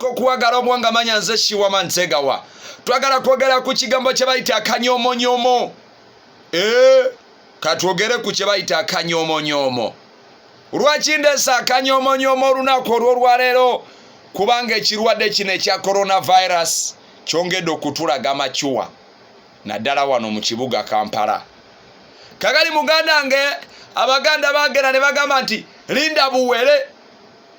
okuwagala obwonga manya nze shiwama nsegawa twagala kwogera ku kigambo kye bayita akanyomonyomo e eh, katwogere ku kye bayita akanyomonyomo lwaki ndeesa akanyomonyomo olunaku olwolwaleero kubanga ekirwadde kino ekya coronavirus kyongedde okutulaga macuwa naddala wano mu kibuga kampala kagali muganda nge abaganda bagera ne bagamba nti linda buwere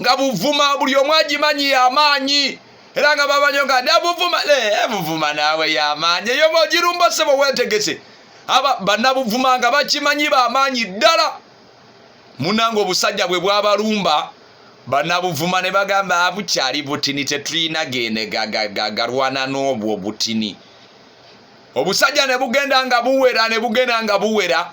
nga buvuma buli omu agimanyi yamaanyi era nga bamanyo nga nabuvuma eh, buvuma naawe yamaanyi eyo ogirumba sebo wetegese aba banabuvuma nga bakimanyi bamaanyi ddala munanga obusajja bwe bwabalumba banabuvuma ne bagamba abukyali butini tetulina gene galwana n'obwo butini obusajja ne bugenda nga buwera ne bugenda nga buwera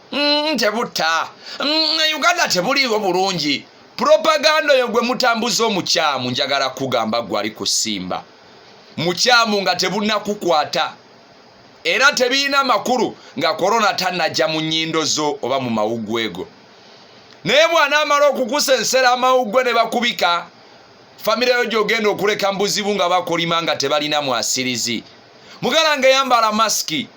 mm, tebutta mm, uganda tebuliiwo bulungi propaganda oyo gwe mutambuza omukyamu njagala kugamba gwe ali kusimba mukyamu nga tebunakukwata era tebirina makulu nga korona tanajja mu nyindo zo oba mu mawuggwego naye bwanaamala okukusa ensera amawuggwe ne bakubika famire yo gyogenda okuleka mbuzibu nga bakolima nga tebalina mwasirizi mugala nga eyambala masiki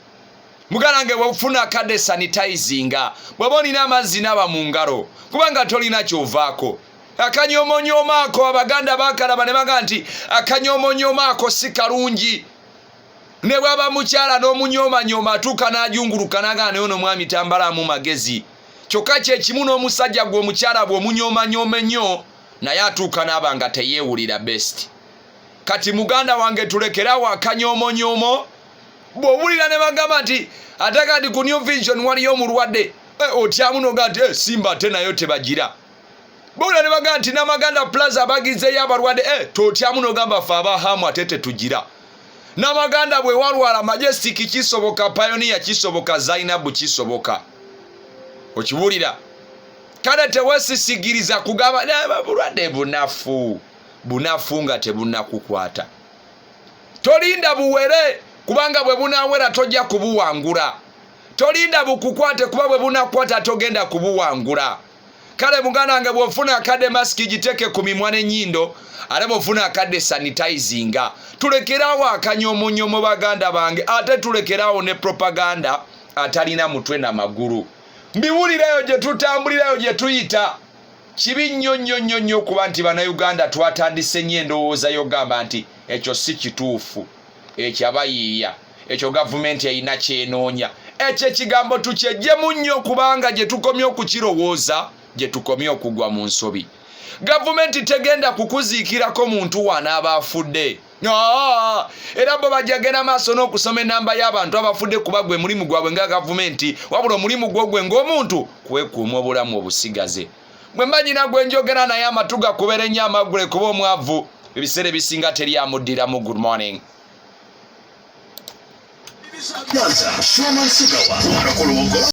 muganda nge bwefuna kade sanitizinga bwaba olina amazzi naba mu ngalo kubanga tolina kyovaako akanyomonyomaako abaganda bakalaba ne baga nti akanyomonyomaako si kalungi ne bwaba mukyala n'omunyomanyoma atuuka n'ajunguluka nagana naye ono mwami tambalaamu magezi kyokka kyekimu n'omusajja gwe omukyala bwe omunyomanyoma ennyo naye atuuka naaba nga teyeewulira best kati muganda wange tulekerawo akanyomonyomo bw'owulira ne bagamba nti ate kati ku new vision waliyo omulwadde eh, otyamu noga nti eh, simba ate nayo tebagira bwowulira ne bagamba nti namaganda plaza bagizeyo abalwadde eh, totyamu nogamba fe abahamu ate tetugira namaganda bwe walwala majestic kisoboka payoniya kisoboka zainabu kisoboka okiwulira kale tewesisigiriza kugamba bulwadde bunafu bunafu nga tebunakukwata tolinda buwere kubanga bwe bunawera tojja kubuwangula tolinda bukukwate kuba bwe bunakwata togenda kubuwangula kale muganda wange bwofuna akadde masiki giteeke ku mimwa n'ennyindo ate bwofuna akadde sanitizinga tulekeraawo akanya omunyo mu baganda bange ate tulekeraawo ne propaganda atalina mutwe na magulu mbiwulirayo gye tutambulirayo gye tuyita kibi nnyo nnyo nnyo nnyo okuba nti bannayuganda twatandise nnyo endowooza yogamba nti ekyo si kituufu ekyo abayiiya ekyo gavumenti erina kyenoonya ekyo ekigambo tukyejjemu nnyo kubanga gye tukomye okukirowooza gye tukomye okugwa mu nsobi gavumenti tegenda kukuziikirako muntu waanaaba afudde era bo bajja genda maaso n'okusoma enamba y'abantu abafudde kuba gwe mulimu gwabwe nga gavumenti wabula omulimu gwo gwe ng'omuntu kwekuuma obulamu obusigaze bwe mba nyina gwe njogera naye amatu gakubera ennyo amaggule kuba omwavu ebiseera ebisinga teri amuddiramu good morning Nyanza, Showman Sugawa, Mwana Kolongo.